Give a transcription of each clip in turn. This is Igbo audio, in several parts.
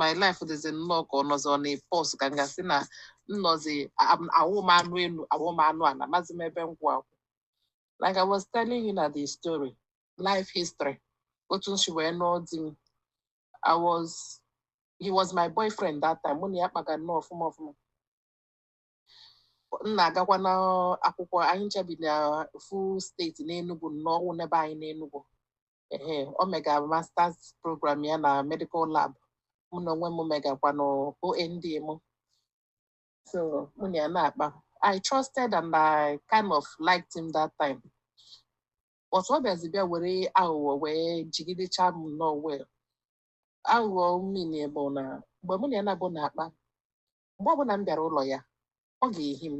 my life dịzi nnọọ ka ọ nọzi on a pause ka m ga-asị na m nọzi awụ m anụ elu awụ m anụ ala amazi m ebe m kwụ akwụ like I was telling you na the story life history otu m si wee nụọ di m I was he was my boyfriend that time mụ na ya kpaga nnọọ ọfụma ọfụma m na-agakwa na akwụkwọ anyị ncha bi na ofu steeti n'Enugu na ọ wụ n'ebe anyị n'Enugu ee o mega masters program ya na medical lab mụ na onwe m megakwa na OND m so mụ na ya na-akpa I trusted and I kind of liked him that time but ọ bịazi bịa were aghụghọ wee jigidecha m nnọọ well aghụghọ m mean bụ na mgbe mụ na ya naabọ na-akpa mgbe ọbụla m bịara ụlọ ya ọ ga-ehi m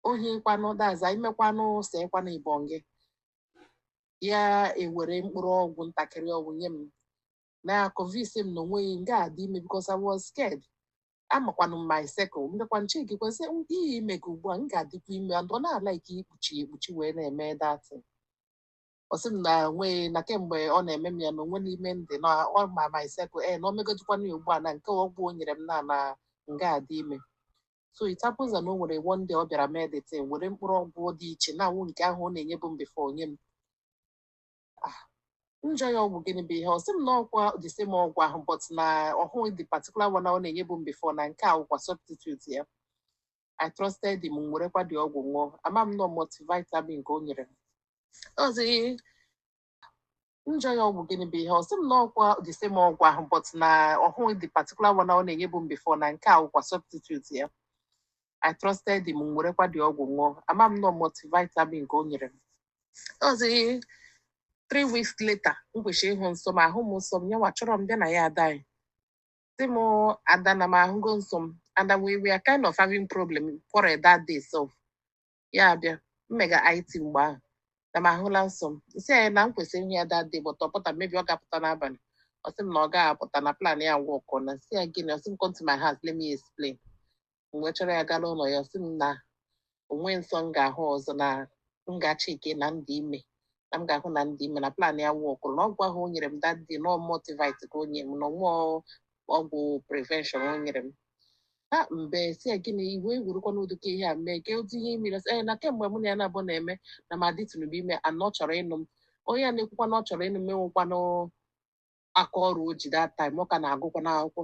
o hikwanụ that is imekwanụ sekwanụ ibọn gị ya ewere mkpụrụ ọgwụ ntakịrị ọgwụ nye m na-aconvince m na o nweghị m ga-adị ime because I was scared amakwanụ m my circle mbịakwa nche gị kwesị ihe ime gị ugbu a m ga-adịkwa ime and ọ na-alike ikpuchi ekpuchi wee na-eme that thing ọ sị m na nweghị na kemgbe ọ na-eme m ya na onwe n'ime ndị na ọ ma my circle ee na o megodikwana ya ugbu a na nke ọgwụ o nyere m na na m ga-adị ime so it happens na o nwere one day ọ bịara mee the thing were mkpụrụ ọgwụ dị iche na awụ nke ahụ ọ na-enyebu m before nye m Ah, m jụọ ya ọgwụ gịnị bụ ihe a ọ sị m na ọkwa the same ọgwụ ahụ but na ọ wụghị the particular one ọ na-enyebu m before na nke a wụkwa substitute ya I trusted him m werekwa the ọgwụ ṅụọ ama m na ọ multivitamin ka o nyere m ọzi m jụọ ya ọgwụ gịnị bụ ihe a ọ sị m na ọkwa the same ọgwụ ahụ but na ọ wụghị the particular one ọ na-enyebu m before na nke a wụkwa substitute ya I trusted him m werekwa the ọgwụ ṅụọ ama m na ọ multivitamin ka o nyere m ọzi three weeks later m kwesịrị ịhụ nsọ m ahụ m nsọ m nyanwa chọrọ m bịa na ya ada anyị sị m ada na m ahụgo nsọ m and we were kind of having problem quarrel that day so ya abịa m mega IT mgbe ahụ na m ahụla nsọ m m sị ya na m kwesịrị ịhụ ya that day but ọ pụta maybe ọ ga-apụta n'abalị ọ sị m na ọ gaghị apụta na plan ya workụọna m sị ya gịnị ọ sị m come to my house let me explain m wee chọrọ ya gaa n'ụlọ ya ọ sị m na o nwe nsọ m ga-ahụ ọzọ na m gaa checkie na m dị ime na m ga-ahụ na m dị ime na plan ya workụrụ na ọgwụ ahụ o nyere m that day na ọ multivite ka o nyere m na ọ wụ ọgwụ prevention o nyere m ha m wee sị ya gịnị iwe egwurukwa n'ụdị ka ihe a mee gee ụdị ihe i mere sị ee na kemgbe mụ na ya naabọ na-eme na m adịtụnụbe ime and ọ chọrọ ịnụ m onye a na-ekwukwa na ọ chọrọ ịnụ m enwekwanụ aka ọrụ o ji that time ọ ka na-agụkwanụ akwụkwọ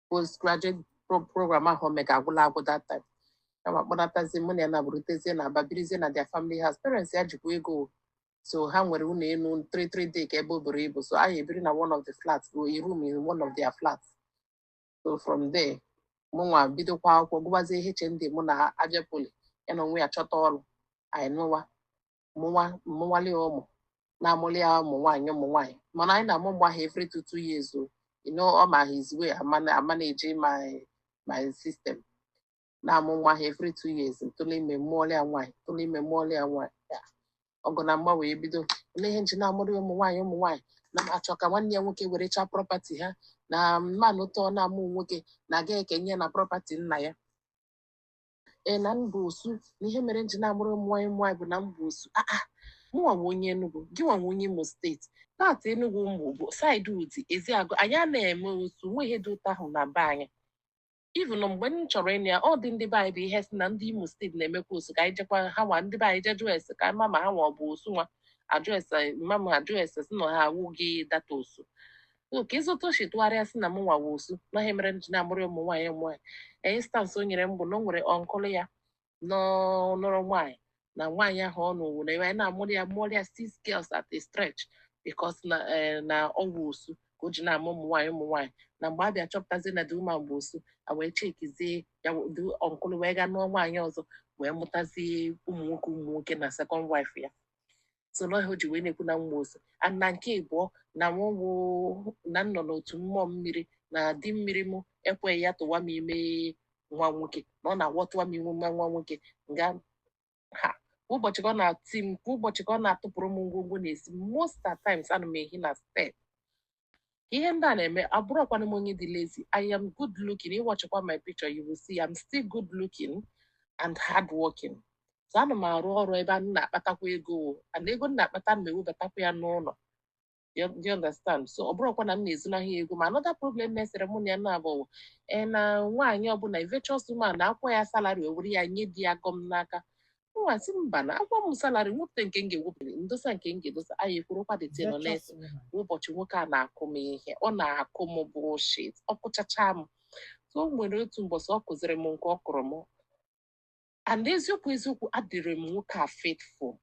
postgraduate pro- program ahụ o mega agwụla agwụ that time ya ma kpọnatazi mụ na ya naabọ rutezie na Aba birizie na their family house parents ya jikwa ego o. so ha nwere ụlọ elu three three decker ebe o buru ibu so anyị ebiri na one of the flats o a room in one of their flats so from there mụnwa bidokwa akwụkwọ gụbazie HND mụ na Abia Poly ya na onwe ya chọta ọrụ anyị nụwa mụnwa mụwalị ya ụmụ na-amụli ya ụmụ nwaanyị ụmụ nwaanyị mana anyị na-amụ mgbe ahụ every two two years o you know ọ ma his way a mana- a manage my my system na-amụ nwa ha every two years m tụlụ ime mụọlị ya nwaanyị m tụlụ ime mụọlị ya nwaanyị Ya, ọgụ na mgba wee bido olee ihe m ji na-amụrụ ya ụmụ nwaanyị ụmụ nwaanyị na m achọ ka nwanne ya nwoke were chaa prọpati ha na m manụ ụtọ na-amụ nwoke na a ga-ekenye ya na prọpati nna ya ee na m bụ osu na ihe mere m ji na-amụrụ ụmụ nwaanyị ụmụ nwaanyị bụ na m bụ osu a a mụnwa wụ onye Enugu gị nwa wụ onye Imo steeti part Enugu mụ bụ saịdị Udi Ezeagụ anyị ana-eme osu nwe ihe dị otu ahụ na be anyị even mgbe m chọrọ ịnụ ya ọ dị ndị be anyị bụ ihe sị na ndị Imo steeti na-emekwa osu ka anyị jekwa ha nwa ndị be anyị jee jụọ ese ka anyị ma ma ha nwa ọ bụ osu nwa ajụọ ese mama ajụọ ese sị na ha awụghị that osu so ka ịzụta o si tụgharịa sị na mụnwa wụ osu na ihe mere m ji na-amụrụ ụmụ nwaanyị ụmụ nwaanyị instansị o nyere m bụ na o nwere ọnkụlụ ya nụrụ nwaanyị na nwaanyị ahụ ọ nụrụ na ebe anyị na-amụrụ ya mụrụ ya six girls at a stretch because na eh, na ọ wụ osu ka o ji na-amụ ụmụ nwaanyị ụmụ nwaanyị na mgbe a bịa chọpụtazie na the woman bụ osu a wee chekizie ya the ọnkụlụ wee gaa nụọ nwaanyị ọzọ wee mụtazie ụmụ nwoke ụmụ nwoke na second wife ya so na o ji wee na-ekwu na m bụ osu and na nke ịbụọ na mụnwa na m nọ n'otu mmụọ mmiri na di mmiri mụ ekweghị ya tụwa m ime nwa nwoke na ọ na-awụ ọ tụwa m ime nwa nwa nwoke nga ha kwa ụbọchị ka ọ na-ati m kwa ụbọchị ka ọ na-atụpụrụ m ngwongwo n'ezi most at times ana m ehi na step ihe ndị a na-eme abụrọkwanụ m onye dị lazy I am good looking ị wachịkwa my picture you will see I'm still good looking and hard working so ana m arụ ọrụ ebe a na-akpatakwa ego o and ego m na-akpata m ewebatakwa ya n'ụlọ do you understand so ọ bụrọkwa na m na-ezonahụ ya ego ma another problem na-esere mụ na ya naabọ wụ, ee na nwaanyị ọbụla virtuous woman a kwụọ ya salary o were ya nye di ya gọm n'aka mụnwa sị mba na a kwụọ m salari m wepụta nke m ga-ewepụta m dosa nke m ga-edosa anyị kwurukwa the thing o nwe ụbọchị nwoke a na-akụ m ihe ọ na-akụ m bullshit ọ kụchacha m so o nwere otu mbọsị ọ kụziri m nke ọ kụrụ m and eziokwu eziokwu adịrị m nwoke a faithful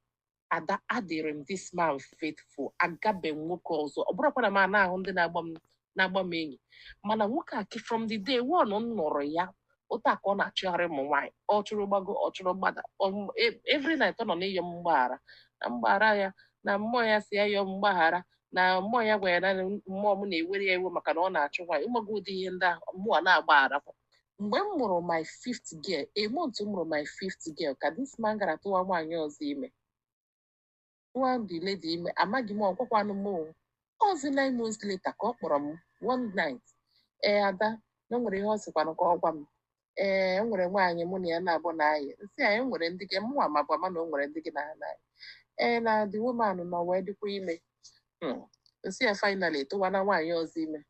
ad- adịrị m this man faithful agabe m nwoke ọzọ ọ bụrọkwa na m ana-ahụ ndị na-agba m na-agba m enyi mana nwoke a ki- from the day one m nụrụ ya otu a ka ọ na-achụgharị ụmụ nwaanyị ọ chụrụ gbago ọ chụrụ gbada ọ- e- every night ọ nọ n'ịyọ m mgbaghara na m gbaghara ya na mmụọ ya sị ya yọọ m mgbaghara na mmụọ ya gwara ya na mmụọ m na-ewere ya iwe maka na ọ na-achụ nwaanyị ịmago ụdị ihe ndị ahụ mụ a na-agbaghara mgbe m mụrụ my fifth girl a month m mụrụ my fifth girl ka this man gara tụwa nwaanyị ọzọ ime tụwa the lady ime amaghị m ọ gwakwanụ m o ọzi nine months later ka ọ kpọrọ m one night ee ada na o nwere ihe ọ sịkwanụ ka ọ gwa m ee enwere nwaanyị mụ na ya nọbu na-ayị m sị ya e nwere ndị gị mụnwa mabu ama na o nwere ndị gị na ha na-ayị ee na the woman nọ wee dịkwa ime Hmm. m sị ya finally tụwana nwaanyị ọzọ ime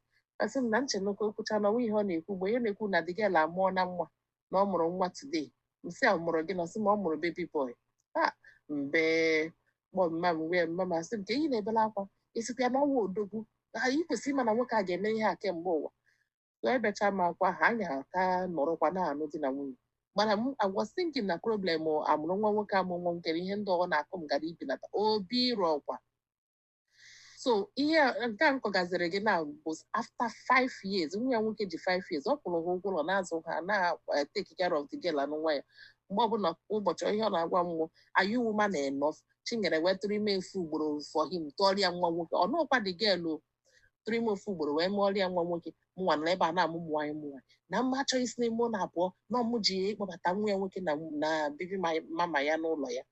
asị m na m chenụ ka o kwuchaa na ọnwa ihe ọ na-ekwu mgbe ihe na-ekwu na the girl amụọna nwa na ọ mụrụ nwa today m sị ya mụrụ gịnị ọ sị m ọ mụrụ baby boy ha m bee kpọọ mma m wee mma m asị m ka enyi na-ebela akwa ị sịkwa ya n'ọnwa odogwu ha i kwesịrị ịma na nwoke a ga-eme ihe a kemgbe ụwa ebechaa m akwa ha anyị aka nọrọkwa na-anụ di na nwunye mana I was thinking na problem a mụrụ nwa nwoke amụ nwa nkere ihe ndị ọ na-akụ m gara ibenata obi eruokwa so ihe nke m kọgaziri gị now bụ after five years nwa ya nwoke ji five years ọ kwụụrụ ha ụgwọ ụlọ na-azụ ha na-take eh, care of the girl and nwa ya mgbe ọbụla ụbọchị ihe ọ na-agwa m wụ are you woman enough chinyere wee tụrụ ime ofu ugboro for him tụọrọ ya nwa nwoke ọ nọkwa the girl ọ tụrụ ime ofu ugboro wee mụọrọ ya nwa nwoke mụnwa nọ ebe a na-amụ ụmụ nwaanyị mụnwa na mụ achọghị isi n'ime ụlọ a pụọ na ọ mụ ji ịkpọbata nwa ya nwoke na baby mama ya n'ụlọ ya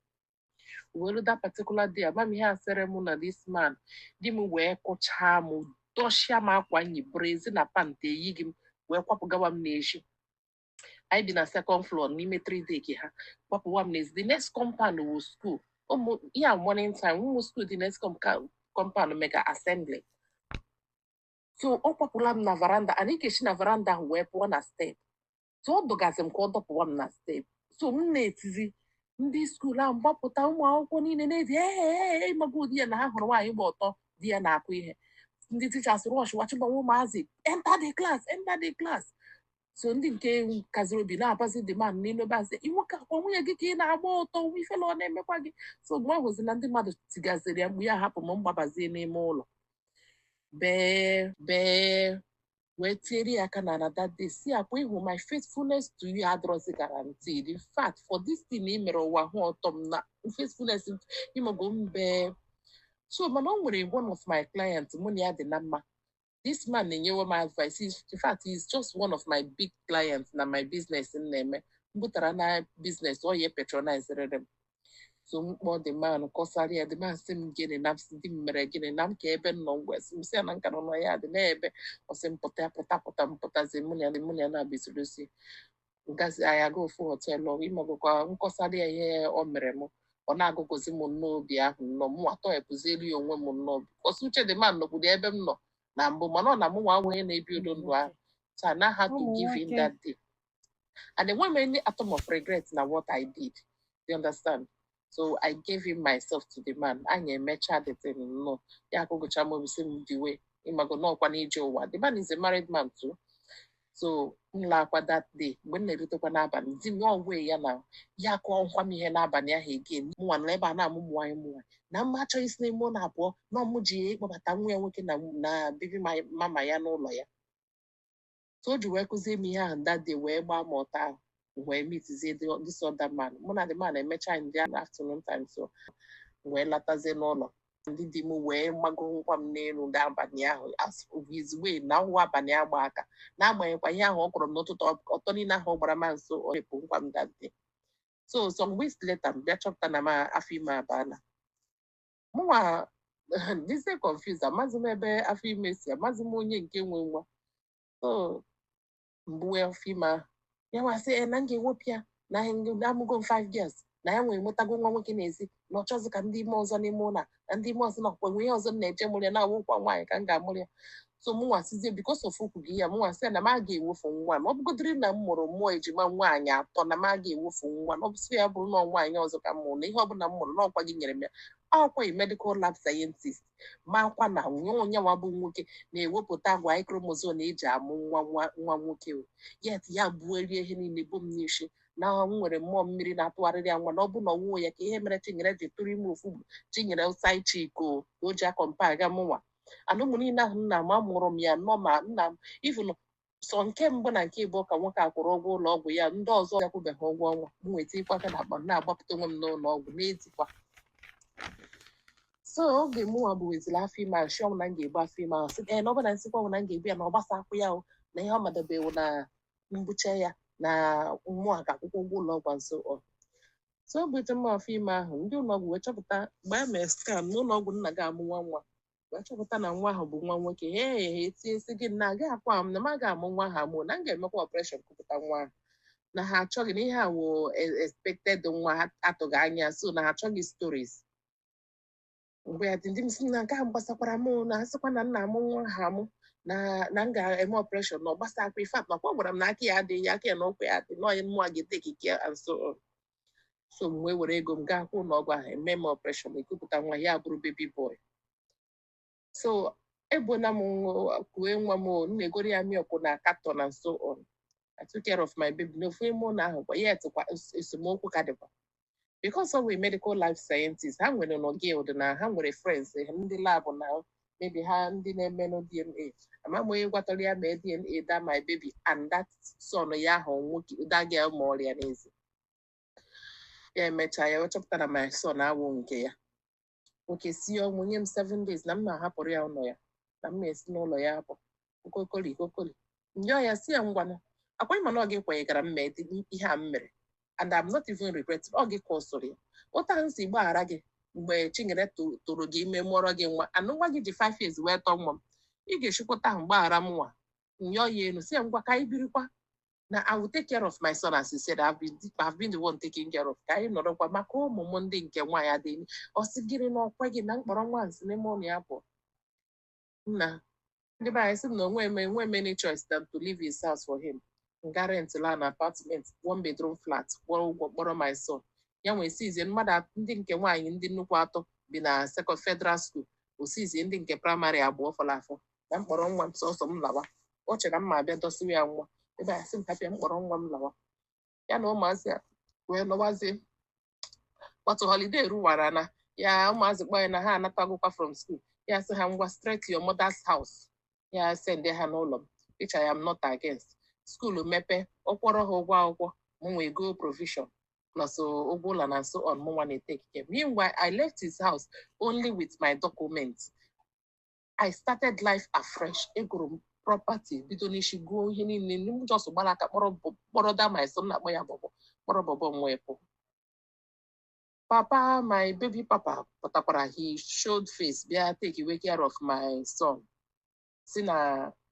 welu that particular day amam ihe a sere m na this man di m wee kụchaa m dọshịa m akwa m yi brezi na pant eyighị m wee kwapụgawa m n'ezi anyị bi na second floor n'ime three deck ha kwapụwa m n'ezi the next compound wụ school ụmụ ihe a morning time ụmụ school the next com- ka- compound mega assembly so ọ kwapụla m na veranda anyị ga-esi na veranda ahụ wee pụọ na step so ọ dọgazi m ka ọ dọpụwa m na step so m na-etizi ndị school ahụ gbapụta ụmụ akwụkwọ niile na-eti ee ịmago ụdị ya na ha hụrụ nwaanyị gba ọtọ di ya na-akụ ihe ndị teachers rush wa chịbawa ụmụazị enter the class enter the class so ndị nke kaziri obi na-abazi the man n'elu ebe a sị nwoke ọkwa nwunye gị ka ị na-agba ọtọ nwa ifele ọ na-emekwa gị so mgbe ọ hụzi na ndị mmadụ tigaziri ya mkpu ya hapụ m m gbabazie n'ime ụlọ bee bee wee tiere ya aka n'ala that day sị ya ọkwa ị hụ my faithfulness to you adịrọzi guaranteed in fact for this thing ị mere ụwa hụ ọtọ m na faithfulness ịmago mbe so mana o nwere one of my clients mụ na ya dị na mma this man na-enyewe m advice He's- in fact he is just one of my big clients na my business m na-eme m bụtara na business ọ ya patronizerịrị m so m kpọọ the man kọsara ya the man sị m gịnị na m sị di m mere gịnị na m kaa ebe m nọ m wee sị m sị ya na m ka nọ na ya dị na-ebe ọ sị m pụta pụta pụta m pụtazi mụ na ya mụ na ya na-abịazirisi ngazi anyị aga ofu họteelụ ị magokwa m kọsara ya ihe o mere m ọ na-agụgụzi m nnọọ obi ahụ nnọọ mụ atọpụzielu ya onwe m nnọọ ọsọ uche the man nọkwuru ebe m nọ na mbụ mana ọ na mụnwa onye na-ebi ụdị ndụ ahụ so I now had to give in that day And enweghị m any atom of regret na what I did. You understand? So I gave him myself to the man. Anyị emecha the thing. Nnọọ, ya agụgụcha m obi sị m diwe. Ị mago na ọkwa n'ije ụwa. The man is a married man too. So m laakwa that day mgbe m na-erutekwa n'abalị di m ọwe ya na ya kụọnụkwa m ihe n'abalị ahụ again mụnwa nọ ebe a na-amụ ụmụ nwaanyị mụnwa na mụ achọghị isi n'ime ụlọ a pụọ na ọ mụ ji ya ịkpọbata nwa ya nwoke na na baby mama ya n'ụlọ ya so o ji wee kụzie m ihe ahụ that day wee gbaa m ọtọ ahụ m wee meetizie the- this other man mụ na the man emecha in the afternoon time so m wee latazie n'ụlọ ndị di m wee gbagonụkwa m n'elu n'abalị ahụ as usual na ọ wụ abalị agba aka n'agbanyeghịkwa ihe ahụ ọ kụrụ m n'ụtụtụ ọ- ọtọ niile ahụ ọ gbara m so ọ rapụnụkwa m that day so some weeks later m bịa chọpụta na m afọ ime abaala mụnwa dịzie confused amazi m ebe afọ ime si amazi m onye nke nwe nwa so m buwe afọ ime ahụ ya nwa sị e na m ga-ewepụ ya na amụgo m 5 girls na ya nwere nwetago nwa nwoke n'ezi na ọ chọzi ka m dị ime ọzọ n'ime ụlọ a, na m dị ime ọzọ nakwa enwe ihe ọzọ m na-eje ịmụrụ ya na ọ wụnụkwa nwaanyị ka m ga-amụrụ ya so mụnwa sizie because of okwu gị ya mụnwa sị na m aga ewefu nwa m ọ bụgodịrị na m mụrụ ụmụ ejima nwaanyị atọ na m aga ewefu nwa m ọ bụsịa bụrụ na ọ nwaanyị ọzọ ka m mụrụ na ihe ọbụla m mụrụ na ọkwa gị nyere m ya ọkwa ị medical lab scientist makwa na onye onye nwa bụ nwoke na-ewepụta Y chromosome e ji amụ nwa nwa nwa nwoke o yet ya burie ihe niile bo m n'isi na m nwere mmụọ mmiri na-atụgharịrị ya nwa na ọ bụ na ọ wụghọ ya kee ihe mere Chinyere ji tụrụ ime ofu bụ Chinyere wụ side chick o ji a-compare aga mụnwa and ụmụ niile ahụ nna m amụrụ m ya nọ ma nna m even sọ nke mbụ na nke ịbụọ ka nwoke a kwụrụ ụgwọ ụlọ ọgwụ ya ndị ọzọ akwụbeghị ụgwọ ọ nwa m na-etikwa aka n'akpa m na-agbapụta onwe m n'ụlọ ọgwụ na-etikwa so oge mụnwa buweziri afọ ime ahụ ọ sị m na m ga-ebu afọ ime ahụ sị ee na ọ bụ na m sịkwa bụ na m ga-ebu ya na ọ gbasakwọ ya o na ihe ọ ma dabe wụ na m bucha ya na mụ ga-akwụkwa ụgwọ ụlọ ọgwụ so ọ so ebute m afọ ime ahụ ndị ụlọọgwụ wee chọpụta mgbe a mere scan n'ụlọọgwụ m na-aga amụ nwa nwa wee chọpụta na nwa ahụ bụ nwa nwoke he he he tie nsị gị na agaghị ekwe m na m agaghị amụ nwa ahụ amụ na m ga-emekwa operation kupụta nwa ahụ na ha achọghị na ihe a wụ expected nwa ha atụghị anya so na ha achọghị stories mgbe ya di m sị na nke ahụ gbasakwara m na a sịkwa na m na-amụ nwa ahụ amụ na na m ga-eme ọpreshọn na ọ gbasakwa ife atụ nakwa ọ gwara m na aka ya adịghị ya aka ya na ụkwụ ya adịghị na onye mmụọ a ga-ete ikike and so on. so m wee were ego m gaa kwụọ ụlọ ọgwụ ahụ e mee m ọpreshọn e kupụta nwa ya bụrụ baby boy so egbona m nwa- kue nwa m o, m na-egoro ya milk na carton na so on I took care of my baby n'ofu ime ụlọ ahụ kwa ya etikwa es- esemokwu ka dịkwa because ọ bụ medical lab scientist ha nwerenụ guild na ha nwere friends eh, ndị lab na maybe ha ndị na-emenụ DNA ama m onye gwatara ya mee DNA that my baby and that son ya ahụ nwoke that girl mụọrọ ya n'ezi ya emechaa ya wee chọpụta na my son awụ nke ya nwoke si ọnwụ nye m seven days na m ma ahapụrụ ya ụlọ ya na m ma esi n'ụlọ ya apụ okokoli okokoli m yọọ ya sị ya ngwanụ ọkwa ị ma na ọ gị kwanyegara m mee ihe a m mere and I'm not even regret ọ gị kọsụrụ ya otu a m si gbaghara gị mgbe Chinyere tụọrọ gị ime mụọrọ gị nwa and nwa gị ji five years wee tọọ nwa m ị ga-esikwa otu ahụ gbaghara mụnwa m yọọ ya elu sị ya ngwa ka anyị birikwa na I will take care of my son as he said I've been, I've been the one taking care of ka anyị nọrọkwa maka ụmụ m ndị nke nwaanyị ọ sị gịnị na o kweghị na m kpọrọ nwa m si n'ime ụlọ ya pụọ nna ndị be anyị sị na enwe m enwe m any choice than to leave his house for him m gaa rent la an apartment one bedroom flat kwụọ ụgwọ kpọrọ my son ya wee sịzie mmadụ at- ndị nke nwaanyị ndị nnukwu atọ bi na second federal school ọ sịzie ndị nke praịmarị abụọ fọrọ afọ na m kpọrọ nwa m sọsọ m lawa o chere na m ma abịa dọsịrị ya nwa ebe a sị m hapụ ya m kpọrọ nwa m lawa ya na ụmụazị a wee lọwazie but holiday ruwara na ya ụmụazị kpọọ ya na ha anatagokwa from school ya sị ha ngwa straight to your mother's house ya send ha n'ụlọ m which I am not against school mepe ọ kwụọrọ ha ụgwọ akwụkwọ m wee go provision plus uh, ụgwọ ụlọ na so on mụnwa na-etake care meanwhile I left his house only with my documents I started life afresh egoro m property bido n'isi goo ihe niile na m just gbara aka kpọrọ bọ- kpọrọ that my son na-akpọ ya bọbọ kpọrọ bọbọ m wee pụọ papa my baby papa pụtakwara he showed face bịa take-ewe care of my son sị na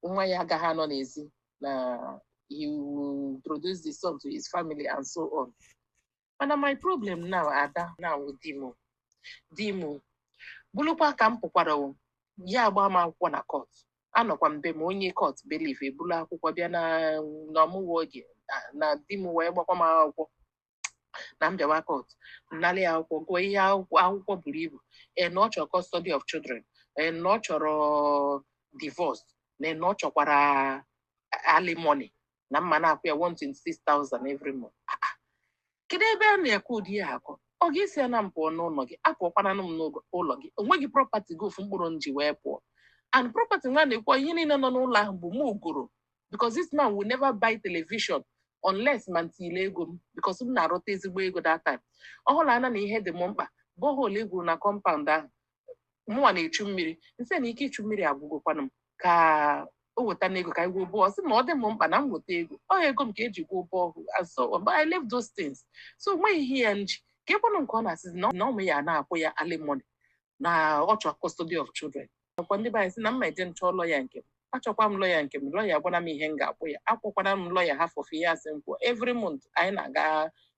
nwa ya agaghị anọ n'ezi na he will introduce the son to his family and so on mana my problem now Ada now di m di m bụrụkwa ka m pụkwara o, ya agba m akwụkwọ na kọt anọkwa m be m onye kọt bailiff ebulu akwụkwọ bịa na ọ mụwa Oge na- na di m wee gbakwa m akwụkwọ na m bịawa kọt m nalị ya akwụkwọ gụọ ihe akwụkwọ akwụkwọ buru ibu ee na ọ chọrọ custody of children ee na ọ chọrọ divorce na na ọ chọkwara alimony na m ma na-akwụ ya 126,000 every month Ah, ah. kedu ebe a na-akọ ụdị ya akọ ọ gị sị ya na m pụọ n'ụlọ gị apụọkwananụ m n'ụlọ gị o nweghị property gị ofu mkpụrụ m ji wee pụọ and property mụwa na-ekwu ihe niile nọ n'ụlọ ahụ bụ mụ goro because this man will never buy television unless ma m tinye ego m because m na-arụta ezigbo ego that time ọ hụrụ anya na ihe dị m mkpa borehole e gwuru na compound ahụ mụnwa na-echu mmiri m sị na ike ichu mmiri agwụgokwana m ka o wetanụ ego ka anyị gwuo borehole sị na ọ dị m mkpa na m weta ego ọ ego m ka e ji gwuo borehole so but I left those things so nweghị ihe ya m ji keekwanụ nke ọ na-asịzi na mụ ya na-akwụ ya alimony na ọ chọọ custody of children ọkwa ndị be anyị sị na m ma eje m chọọ lawyer nke m achọkwa m lawyer nke m lawyer gwara m ihe m ga-akwụ ya akwụkwara m lawyer half of ihe a sị m kwụọ every month anyị na-aga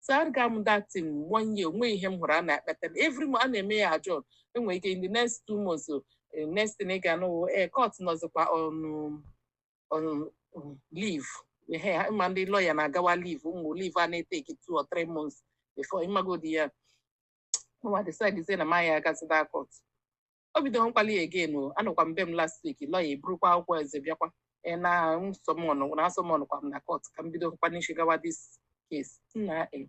so arịga m that thing one year o nweghị ihe m hụrụ a na-ekpeta every month a na-eme ya adjourn e nwere ike in the next two months o, eh, next thing ị ga-anụ ee court nọzikwa on on um, leave ehe ha- ma ndị lawyer na-agawa leave ụmụ leave a na-eteki two or three months before ịmagodi ya nwa decide sị na maya agazi that court o bidonụkwala ya again o anọkwa m be m last week lawyer eburukwa akwụkwọ eze bịakwa ee na summon na a summonkwa m na court ka m bidonụkwa n'isi gawa this case nna e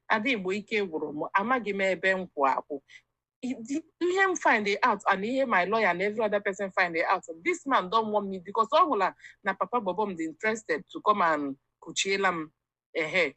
Ada Igbo ike gwụrụ m amaghị m ebe m kwụ akwụ I- di- ihe m find it out and ihe my lawyer and every other person find it out this man don't want me because ọ hụla na papa bobo m dị interested to come and kuchiela m ehe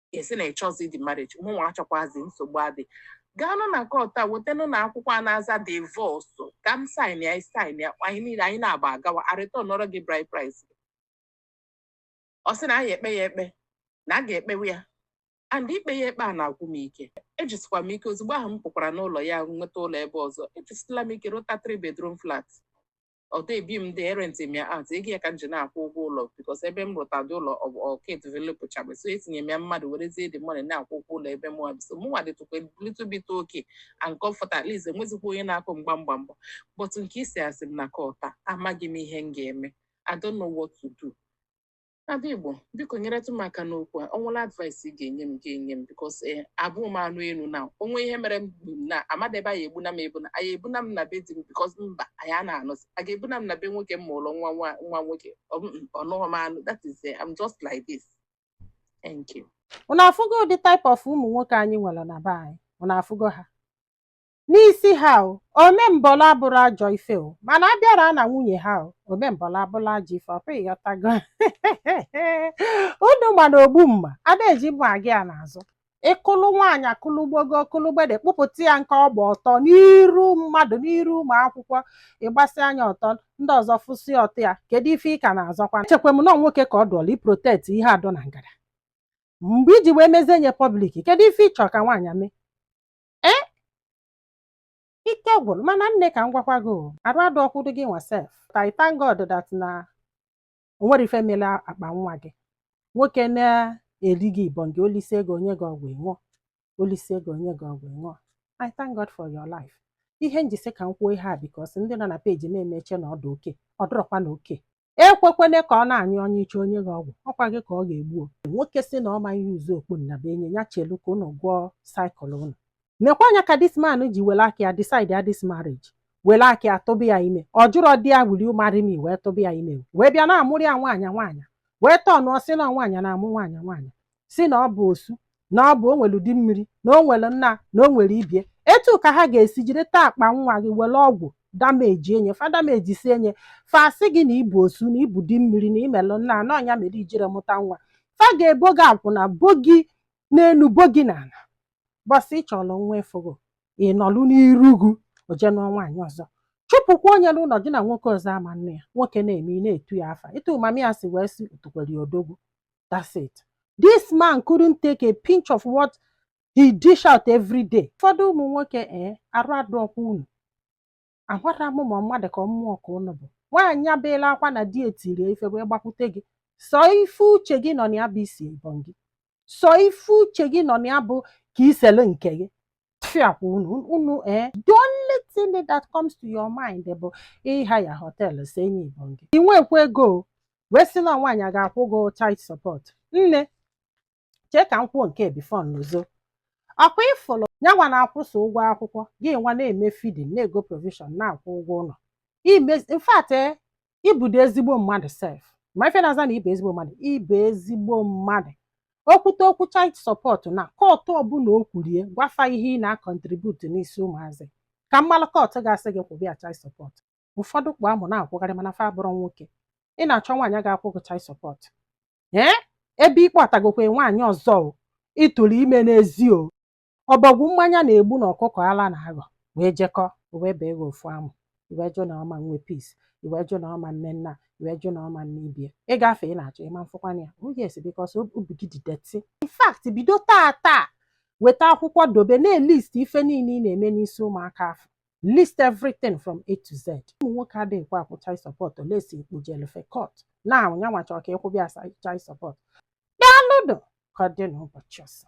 ị sị na ị chọzi the marriage mụnwa achọkwazi nsogbu adị gaanụ na court wetanụ na akwụkwọ a na-aza divorce ka m sign ya sign ya anyị niile anyị n'abọ agawa a returnọrọ gị bride price gị ọ sị na anyị ekpe ya ekpe na a ga-ekpewe ya and ikpe ya ekpe a na-agwụ m ike ejisikwa m ike ozugbo ahụ m pụkwara n'ụlọ ya nweta ụlọ ebe ọzọ ejisila m ike rụta three bedroom flat although ebi m there e rent m ya out ego ya ka m ji na-akwụ ụgwọ ụlọ because ebe m rụtadị ụlọ ọ bụ ọ ka developụchabe so etinye m ya mmadụ werezie the money na-akwụ ụgwọ ụlọ ebe mụwa bi so mụnwa dịtụkwa little bit okay and comfort at least enwezikwa onye na-akụ mgba mgba mgba but nke isi asị m na court a amaghị m ihe m ga-eme I don't know what to do Ada Igbo, biko nyeretụ m aka n'okwu a. Ọ nwere advice ị ga-enye m gị enye m because eh, abụ m anụ elu na o nwee ihe mere m bụ na amadị ebe a ya ebuna m ebuna a ya ebuna m na be di m because mba anyị a na-anụzi a ga-ebuna m na be nwoke m mụrụ nwa nwa nwa nwoke Ọ bụ, mm, ọ nụghị m anụ that is eh, I'm just like this thank you unu afụgo ụdị type of ụmụ nwoke anyị nwere na be anyị unu afụgo ha n'isi ha o omembọla abụrọ ajọ ife o mana a bịara na nwunye ha o omembọla abụrụ ajọ ife ọ pụ ị ghọtago unu ma na ogbu mma ada eji mma aga ya n'azụ ị kụlụ nwaanyị akụlụ gbogo ọkụlụ gbede kpụpụta ya nke ọgba ọtọ n'iru mmadụ n'iru ụmụ akwụkwọ ị gbasịa nya ọtọ ndị ọzọ fụsịa ọtọ ya kedu ife ị ka na-azọkwa echekwa m na ọ nwoke ka ọ dụọla iprotekt ihe a dụ na ngada mgbe i ji wee mezie nya pọblik kedu ife ị chọrọ ka nwaanyị mee ee eh? ike gwụrụ mana nne ka m gwakwa gị arụ adọọkwadị gị nwa sef but I thank God that na o nwerọ ife mere akpa nwa gị nwoke na-eri gị ibọngị o lisie gị o nye gị ọgwụ ị ṅụọ o lisie gị o nye gị ọgwụ ị ṅụọ I thank God for your life ihe m ji sị ka m kwuo ihe a because ndị nọ na peji na-eme che na ọ dụ okay ọ dụrọkwanụ okay ekwekwana ka ọ na-anyụnye ị chaa o nye gị ọgwụ ọ kwa gị ka ọ ga-egbu o. nwoke sị na ọ ma a-use okpu nnabuenyi ya chelu ka ụnụ gụọ cycle ụnụ nekwa anya ka this man ji were aka ya decide ya this marriage were aka ya tụba ya ime ọ jụrọdị ya will you marry me wee tụba ya ime wee bịa na-amụrụ ya nwaanyị nwaanyị wee tọnụọ sị na nwaanyị na-amụ nwaanyị nwaanyị sị na ọ bụ osu na ọ bụ o nwere di mmiri na o nwere nna na o nwere ibie etu ka ha ga-esi jiri taa akpa nwa gị were ọgwụ damejie nya fa damejisie nya fa sị gị na ị bụ osu na ị bụ di mmiri na i melụ nna na ọ nya mere ijirọ mụta nwa fa ga-ebo gị akwụna bo gị n'elu bo gị n'ala bọsị ị chọrọ nwa efugo ị nọlụ n'iru gị o je nụọ nwaanyị ọzọ chụpụkwa onye n'ụlọ gị na nwoke ọzọ ama nne ya nwoke na-eme ị na-etu ya afa etu mami ya si wee si otukwere ya odogwu that's it this man couldn't take a pinch of what he dish out every day ụfọdụ ụmụ nwoke ee eh, arụ adọọkwa unu amarọ m ma mmadụ ka mmụọ ka ụnụ bụ nwaanyị ebeela akwa na di ya tiri ya ife wee gbakwute gị sọ ife uche gị nọ na ya bụ isi ibọngị sọ ife uche gị nọ na ya bụ ka i sele nke gị tufiakwa unu unu ee the only thing that comes to your mind bụ ịhaya họteelụ sie nya ibọngị ị nwekwa ego o, wee sị na nwaanyị a ga-akwụ gị child support nne chee ka m kwuo nke a before m lozo ọ kwa ị fụlụ nya nwa na-akwụ sọ ụgwọ akwụkwọ gị nwa na-eme feeding na-ego provision na-akwụ ụgwọ ụlọ imezi in fact ị bụdị ezigbo mmadụ sef ma ife na-aza na ị bụ ezigbo mmadụ ị bụ ezigbo mmadụ o kwute okwu child support na kọtụ ọ bụ na o kwurie gwa fa ihe ị na-akọntributu n'isi ụmụazị ka m malụ kọtụ ga-asị gị kwụba ya child support ụfọdụ kpụ amụ na-akwụgharị mana fa abụrọ nwoke ị na-achọ nwaanyị a ga-akwụ gị child support ee ebe ị kpọtagokwa nwaanyị ọzọ o ị tụrụ ime n'ezi o ọbọgwụ mmanya na-egbu na ọkụkọ ala na-aghọ wee jekọ o wee bee gị ofu amụ i wee jụ na ọ ma nwe peace i wee jụ na ọ ma nwe nna i wee jụ na ọ ma nwe ibe ị gafee ị na-achọ ịma m fụkwana ya oh yes because obi gị dị dirty in fact bido taa taa weta akwụkwọ dobe na-elist ife niile ị na-eme n'isi ụmụaka afụ list everything from a to z ụmụ nwoke adịghịkwa akwụ child support unless i kpụjelu fa court na nyanwa chọrọ ka ị kwụba ya child support daalụnụ ka ọ dị n'ụbọchị ọzọ